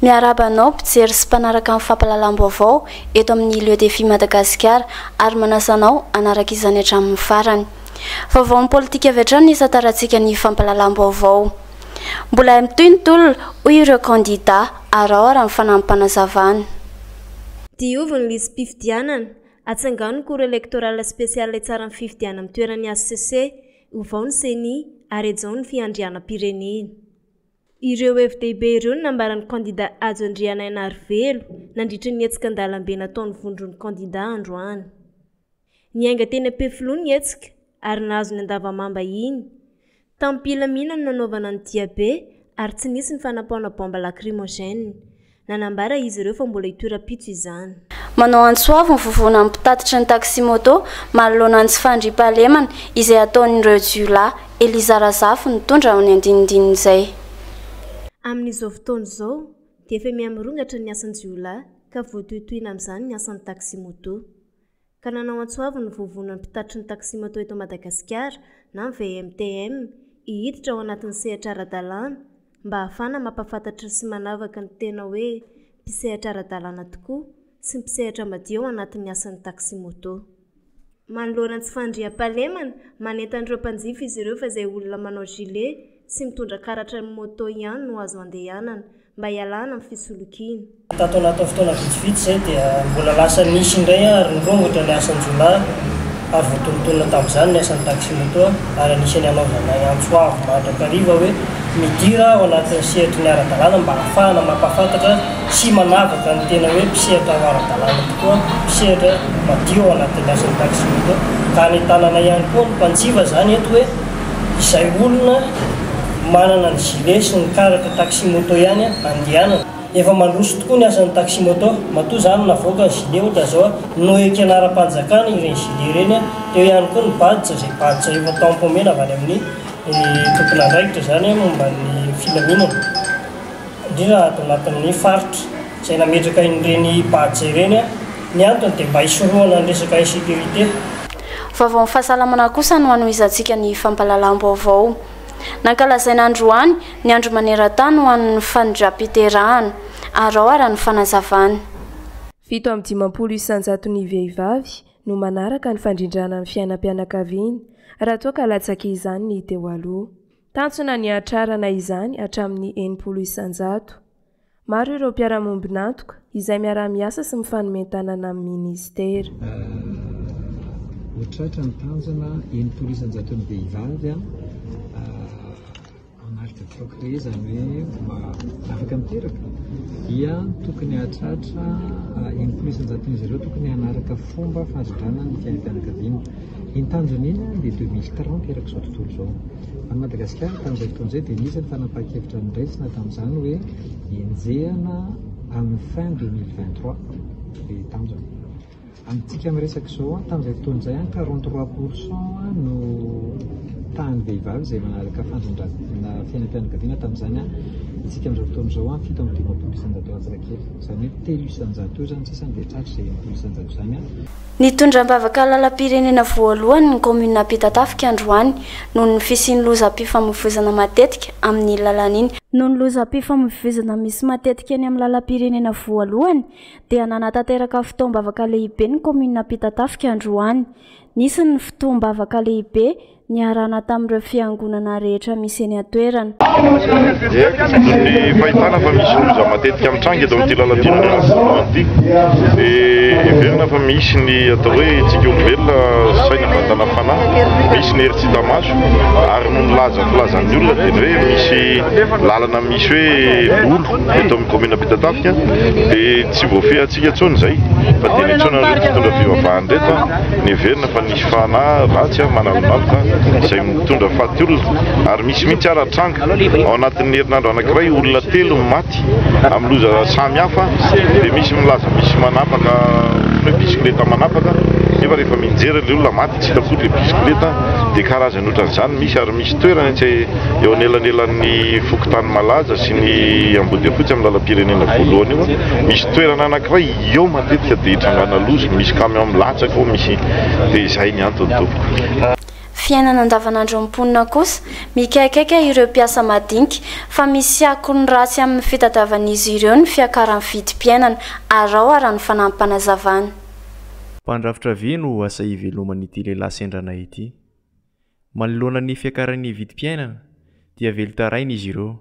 Miarahaba anao mpijery sy mpanaraka ny fampahalalam-baovao eto amin'ny Lieu Défi Madagasikara ary manasa anao hanaraka izany hatramin'ny farany. Vaovaon'ny politika avy hatrany ny isan-tarantsika ny fampahalalam-baovao. Mbola hay mitohy ny tolona, hoy ireo kandidà, araho ary amin'ny fanahy-panazavana. Diovy ny lisi-pifidianana, Atsangano ny cour electorale spéciale hitsara ny fifidianana amin'ny toeran'ny hcc, ovao ny ceni, ary hajao ny fiandrianam-pirenena. Ireo hevi-dehibe ireo no nambaran'ny kandida Hajo Andrianainarivelo nandritra ny hetsika an-dalambe nataon'ny vondron'ny kandida androany. Niainga teny Ampefiloha ny hetsika ary nahazo ny Andavamamba iny. Tamim-pilaminana no nanaovana ny diabe ary tsy nisy ny fanapaona bomba lakrimogène. Nanambara izy ireo fa mbola hitohy rahampitso izany. Manao antso avo ny vovonan'ny mpitatitry ny taxi-moto manoloana ny tsy fandriampahalemana izay ataon'ireo jiolahy. Eliza Razafy nitondra ny andinindin'izay. Amin'izao fotoana izao dia efa miha-mirongatra ny asan-jiolahy ka voatohitohina amin'izany ny asan'ny taxi-moto. ka nanao antso avo ny Vovonan'ny Mpitatitry ny Taxi-Moto eto Madagasikara na ny VMTM hihiditra ao anatin'ny sehatra ara-dalàna mba hahafahana mampahafantatra sy manavaka ny tena hoe mpisehatra ara-dalàna tokoa sy mpisehatra madio ao anatin'ny asan'ny taxi-moto. Manoloana ny tsy fandriampahalemana, manentana ireo mpanjifa izy ireo fa izay olona manao gilet sy mitondra karatra ny moto ihany no azo andehanana. mba hialana amin'ny fisolokiana. Tato anatin'ny fotoana vitsivitsy izay dia mbola lasa nisy indray ary nirongotra ny asan-jiolahy ary voatonontonona tamin'izany ny asan'ny taxi-moto ary anisan'ny hanaovanay antso avo mandrakariva hoe midira ao anatin'ny sehatry ny ara-dalàna mba hahafahana mampahafantatra sy manavaka ny tena hoe mpisehatra ho ara-dalàna tokoa, mpisehatra madio ao anatin'ny asan'ny taxi-moto ka anentananay ihany koa ny mpanjifa izany eto hoe. izay olona manana ny gilet sy ny karatra taxi-moto ihany andehanana. Efa mandroso tokoa ny asan'ny taxi-moto. Matoa izany navoaka ny gilet ohatra izao no ekena ara-panjakana ireny gilet ireny, teo ihany koa ny badge izay badge efa tampo omena avy any amin'ny tompon'andraikitra izany momba ny filaminana, indrindra ato anatin'ny faritra izay nametraka ireny badge ireny. Ny antony dia mba hisorohana ny resaka insécurité. Vaovaon'ny fahasalamana kosa no hanohizantsika ny fampahalalam-baovao. Nankalazaina androany ny andro maneran-tany ho an'ny fanindram-piterahana. Arao ara ny fanazavany. Fito amby dimampolo isan-jaton'ny vehivavy no manaraka ny fandrindrana ny fiainam-pianakaviany raha toa ka latsaka izany ny teo aloha. Tanjona ny hahatrarana izany hatramin'ny enimpolo isan-jato. Maro ireo mpiara-miombon'antoka izay miaraha-miasa sy mifanomen-tanana amin'ny Minisitera. Ho tratra ny tanjona enimpolo isan-jaton'ny vehivavy hanalika troc-re, izany hoe afaka miteraka, dia tokony hahatratra enimpolo isan-jaton'izy ireo tokony hanaraka fomba fahazodrana ny fiainam-pianakaviana. Ny tanjony iny dia deux mille trente erak' izao tontolo izao. Any Madagasikara tamin' izay fotoana izay dia nisy ny fanapahan-kevitra noraisina tamin' izany hoe enjehana amin' ny fin deux mille vingt trois ny tanjona. Amintsika miresaka izao an, tamin' izay fotoana izay an quarante trois pour cent no tahan' ny vehivavy izay manaraka fandrindran' ny fiainam-pianakaviana tamin' izany an, isika amin' izao fotoana izao an fito amby dimampolo isan-jato latsaka kely, izany hoe telo isan-jato eo izany sisa dia tratry izay enimpolo isan-jato izany an. Nitondra am-bavaka lalam-pirenena voalohany ny kaominina Ampitatafika androany noho ny fisian'ny lozam-pifamoivoizana matetika amin'iny lalana iny. Noho ny lozam-pifamoivoizana misy matetika eny amin'ny lalam-pirenena voalohany dia nanatanteraka fotoam-bavaka lehibe ny kaominina Ampitatafika androany. Nisy ny fotoam-bavaka lehibe niarahana tamin'ireo fiangonana rehetra misy eny an-toerana. Ny fahitana fa misy loza matetika mitranga eto amin'ity lalan-tiana ara-boalohany ity dia heverina fa misy ny atao hoe tsika olombelona, saina, vatana, fanahy, misy ny hery tsy hita maso ary noho ny laza filazan'ny olona dia ny hoe misy lalana misy hoe lolo eto amin'ny kaominina Ampitatafika dia tsy voafehintsika intsony izay fa dia niantsoana an'ireto mpitondra fivavahan'ireto, niheverina fa ny. fanahy ratsy manalonaloka izay mitondra faty olona ary misy mihitsy ara tranga ao anatin'ny herinandro anankiray olona telo no maty amin'ny loza samy hafa dia misy milaza misy manapaka hoe bisikileta manapaka nefa rehefa mijery ilay olona maty tsy hita akory ilay bisikileta dia karazany ohatran'izany misy ary misy toerana etsy eo anelanelan'ny fokontany malaza sy ny ambodiafotsy amin'ny lalam-pirenena voalohany io misy toerana anankiray Eo matetika dia hitrangana loza, misy camion milatsaka eo, misy, dia izay ny antony tompoko. Fiainana andavanandron'ny mponina kosa, mikaikaika ireo mpiasa madinika, fa misy akony ratsy amin'ny fitadiavan'izy ireo ny fiakaran'ny vidim-piainana, arao araka ny fanampim-panazavana. Mpandrafitra ve no asa hiveloman'ity lehilahy sendra anay ity? Manoloana ny fiakaran'ny vidim-piainana dia velon-taraina izy ireo.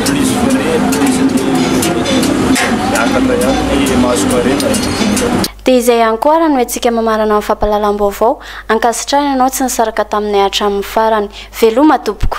Krizy fiteny, krizy ny miakatra ihany ny mahasomarina e! Dia izay ihany koa ary no hetsika mamarana ny fampahalalam-baovao, ankasitrahina ianao tsy nisaraka taminay hatramin'ny farany. Veloma tompoko.